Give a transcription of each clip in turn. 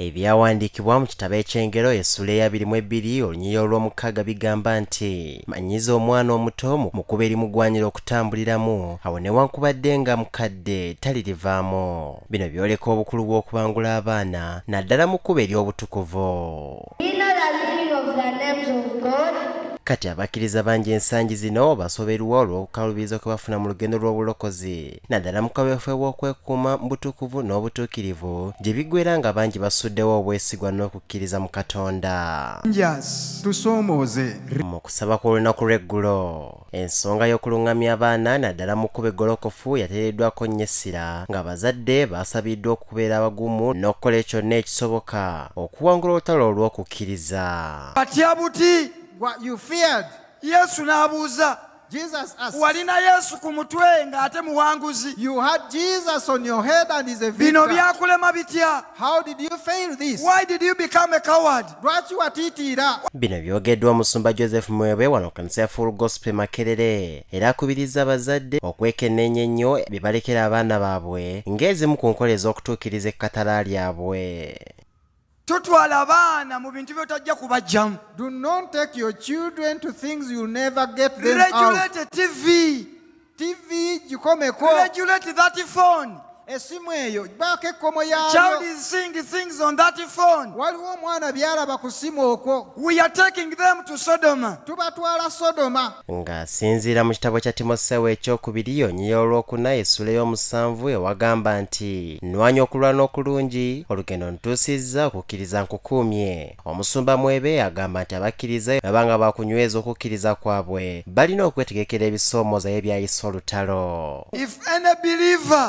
Ebyawandiikibwa mu kitabo eky'Engero essuula eya biri mu ebbiri olunyiya olw'omukaaga bigamba nti, Manyiiza omwana omuto mu kkubo erimugwanira okutambuliramu, awo newankubadde nga mukadde talirivaamu. Bino byoleka obukulu bw'okubangula abaana naddala mu kkubo ery'obutukuvu. Kati abakkiriza bangi ensangi zino basoberwa olw'okukaluubirizwa kwe bafuna mu lugendo lw'obulokozi. naddala mu kaweefube w'okwekuuma mu butukuvu n'obutuukirivu gye biggweera nga bangi basuddewo obwesigwa n'okukkiriza mu Katonda. Rangers tusoomooze. Mu kusaba kw'olunaku lw'eggulo, ensonga y'okulung'amya abaana naddala mu kkubo eggolokofu yateereddwaako nnyo essira ng'abazadde baasabiddwa okubeera abagumu n'okukola kyonna ekisoboka okuwangula olutalo olw'okukkiriza. Batya buti? What you feared. Yesu n'abuuza. Jesus asked, walina yesu ku mutwe ng'ate muwanguzi You had Jesus on your head and he's a bino victor. byakulema bitya How did you fail this? why did you become a coward Lwaki watiitiira? bino byogeddwa omusumba joseph mwebwe wano ku kanisa ya full gospel makerere era akubiriza abazadde okwekenneenya ennyo bye balekera abaana baabwe ng'ezimu ku nkola ez'okutuukiriza ekkatala lyabwe totwala baana mu bintu byotajja kubajjamu do not take your children to things you'll never get them out regulate tv tv gikomeko regulate that phone esimu eyo baako ekkomo yayo child is seeing things on that phone waliwo omwana byalaba ku simu okwo we are taking them to sodoma tubatwala sodoma Ng'asinziira mu kitabo kya Timoseewo ekyokubiri yonyiya olwokuna esula ey'omusanvu ewagamba nti nwanya okulwana okulungi olugendo ntuusizza okukkiriza nkukuumye. Omusumba Mwebe agamba nti abakkiriza bwebaba nga bakunyweza okukkiriza kwabwe balina okwetegekera ebisoomooza ye byayisa olutalo. If any believer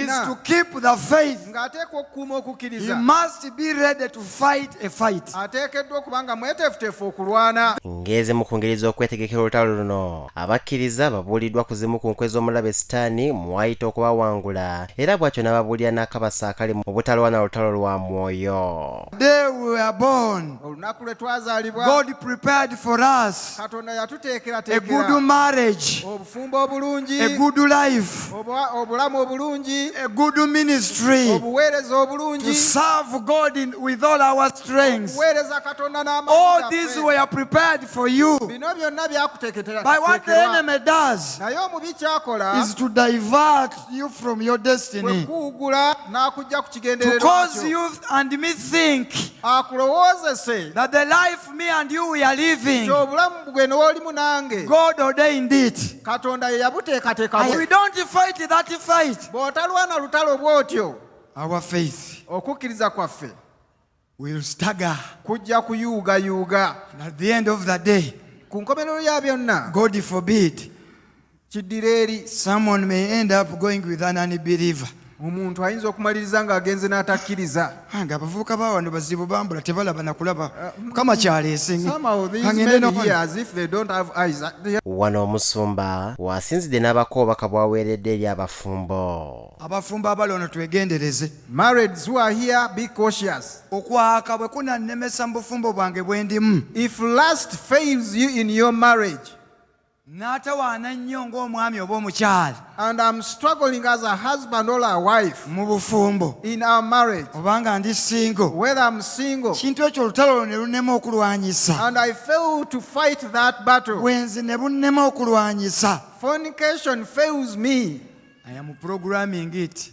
is to keep the faith. ng'ateekwa okukuuma he okukkiriza must be ready to fight a fight. ateekeddwa okuba nga mweteefuteefu okulwana ng'ezimu ku ngeri z'okwetegekera olutalo luno abakkiriza babuuliddwa ku zimu ku nkwe z'omulabe sitaani mwayita okubawangula era bw'atyo n'ababuulira n'akabasa akali mu butalwana lutalo lwa mwoyo The day we were born, olunaku lwe twazaalibwa God prepared for us katonda a good yatuteekerateekera marriage. obufumbo obulungi a good life obulamu obulungi a good ministry obuweereza obulungi to serve god in, with all our strengths obuweereza katonda n'amaanyi all these were prepared for you bino byonna byakuteeketera by what the enemy does naye omubi kyakola is to divert you from your destiny kuwugula n'akujja ku kigendererwa to cause you and me think akulowoozese that the life me and you we are living. Obulamu bwe n'olimu nange. God ordained it. Katonda ye yabuteekateeka. We don't fight that fight. Bw'otalwana lutalo bw'otyo. Our faith. Okukkiriza kwaffe. Will stagger. Kujja kuyuugayuuga. And at the end of the day. Ku nkomerero ya byonna. God forbid. kiddira eri someone may end up going with an unbeliever omuntu ayinza okumaliriza ng'agenze n'atakkiriza Ah, nga abavubuka ba wano bazibu bambula tebalaba nakulaba mukama kyaleese nge- somehow these kangende men n'okuba- here as if they don't have eyes they wano omusumba wasinzidde n'abako obubaka bwaweeredde eri abafumbo abafumbo abali ono twegendereze married who are here be cautious okwaka bwe kunannemesa mu bufumbo bwange bwe ndimu if lust fails you in your marriage n'atawaana nnyo ng'omwami oba omukyala and I'm struggling as a husband or a wife mu bufumbo in our marriage, obanga ndi singo whether I'm single, kintu ekyo olutalo olwo ne lunnema okulwanyisa and I fail to fight that battle. bwenzi ne bunnema okulwanyisa Fornication fails me. aya mu programming it